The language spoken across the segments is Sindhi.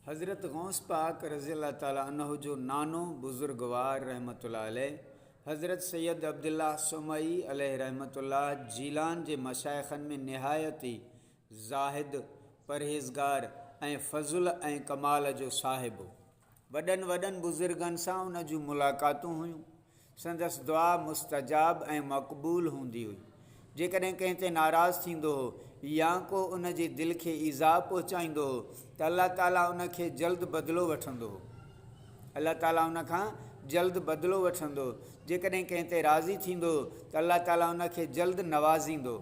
حضرت غوث پاڪ رضي الله تعالٰي عنه جو نانو بزرگوار رحمة الله عليه حضرت سيد عبدالله سومري عليه رحمة الله جيلان جي مشائخن ۾ نهايت ئي زاهد پرهيزگار ۽ فضل ۽ ڪمال جو صاحب هو وڏن وڏن بزرگن سان هن جون ملاقاتون هيون. سندس دعا مستجاب ۽ مقبول هوندي هئي. جيڪڏهن ڪنهن تي ناراض ٿيندو هو يا ڪو ان جي دل کي ايذاء پهچائيندو هو ته الله تعاليٰ ان کي جلد بدلو وٺندو هو. الله تعاليٰ ان کان جلد بدلو وٺندو هو. جيڪڏهن ڪنهن تي راضي ٿيندو هو ته الله تعاليٰ ان کي جلد نوازيندو هو.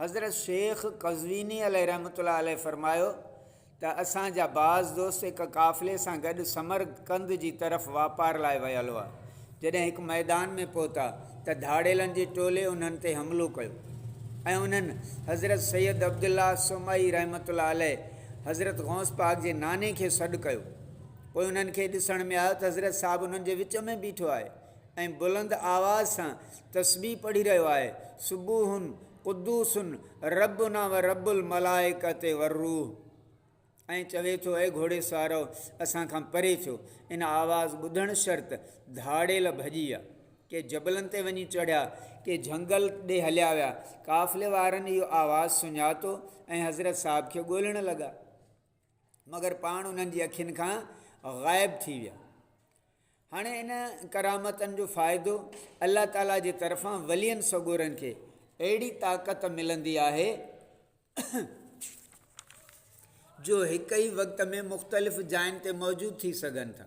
حضرت شيخ قزويني عليه رحمة الله عليه فرمايو ته اسان جا بعض دوست هڪ قافلي سان گڏ سمر قند جي طرف واپار لاء ويل هئا جڏهن هڪ ميدان ۾ پهتا ته ڌاڙيلن جي ٽولي انهن تي حملو ڪيو ۽ انهن حضرت سيد عبدالله سومري رحمة الله عليه حضرت غوث پاڪ جي ناني کي سڏ ڪيو پوء انهن کي ڏسڻ ۾ آيو ته حضرت صاحب انهن جي وچ ۾ بيٺو آهي ۽ بلند آواز سان تسبيح پڙهي رهيو آهي، سبوح قدوس ربنا و رب الملائڪة و الروح ۽ چوي ٿو اي گهوڙيسوارؤ اسان کان پري ٿيو، ان آواز ٻڌڻ شرط ڌاڙيل ڀڄي ويا، ڪي جبلن تي وڃي چڙهيا، ڪي جهنگل ڏي هليا ويا، قافلي وارن اهو آواز سڃاتو ۽ حضرت صاحب کي ڳولڻ لڳا. مگر پاڻ انهن جي اکين کان غائب ٿي ويا. هاڻي ان ڪرامتن جو فائدو الله تعاليٰ جي طرفان ولين سڳورن کي اهڙي طاقت ملندي آهي جو هڪ ئي وقت ۾ مختلف جاين تي موجود ٿي سگهن ٿا.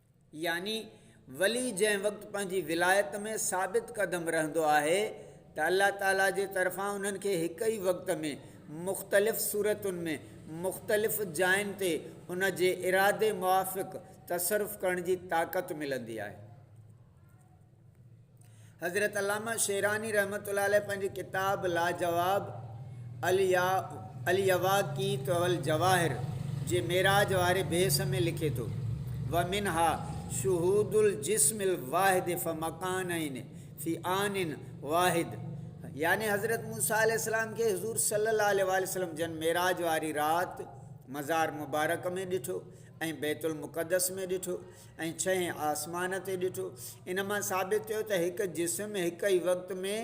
يعني ولي جنهن وقت پنهنجي ولايت ۾ ثابت قدم رهندو آهي ته الله تعالي جي طرفان انهن کي هڪ ئي وقت ۾ مختلف صورتن ۾ مختلف جاين تي ان جي ارادي موافق تصرف ڪرڻ جي طاقت ملندي آهي حضرت علامه شيراني رحمة الله عليه پنهنجي ڪتاب لاجواب اليواقيت والجواهر جي معراج واري بيس ۾ لکي ٿو ومنها شهود الجسم الواحد فمڪانين في آن واحد يعني حضرت موسيٰ عليه السلام کي حضور صلي الله عليه وسلم جن معراج واري رات مزار مبارڪ ۾ ڏٺو ۽ بيت المقدس ۾ ڏٺو ۽ ڇهين آسمان تي ڏٺو. ان مان ثابت ٿيو ته هڪ جسم هڪ ئي وقت ۾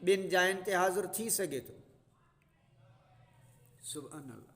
ٻن جاين تي حاضر ٿي سگهي ٿو. سبحان الله.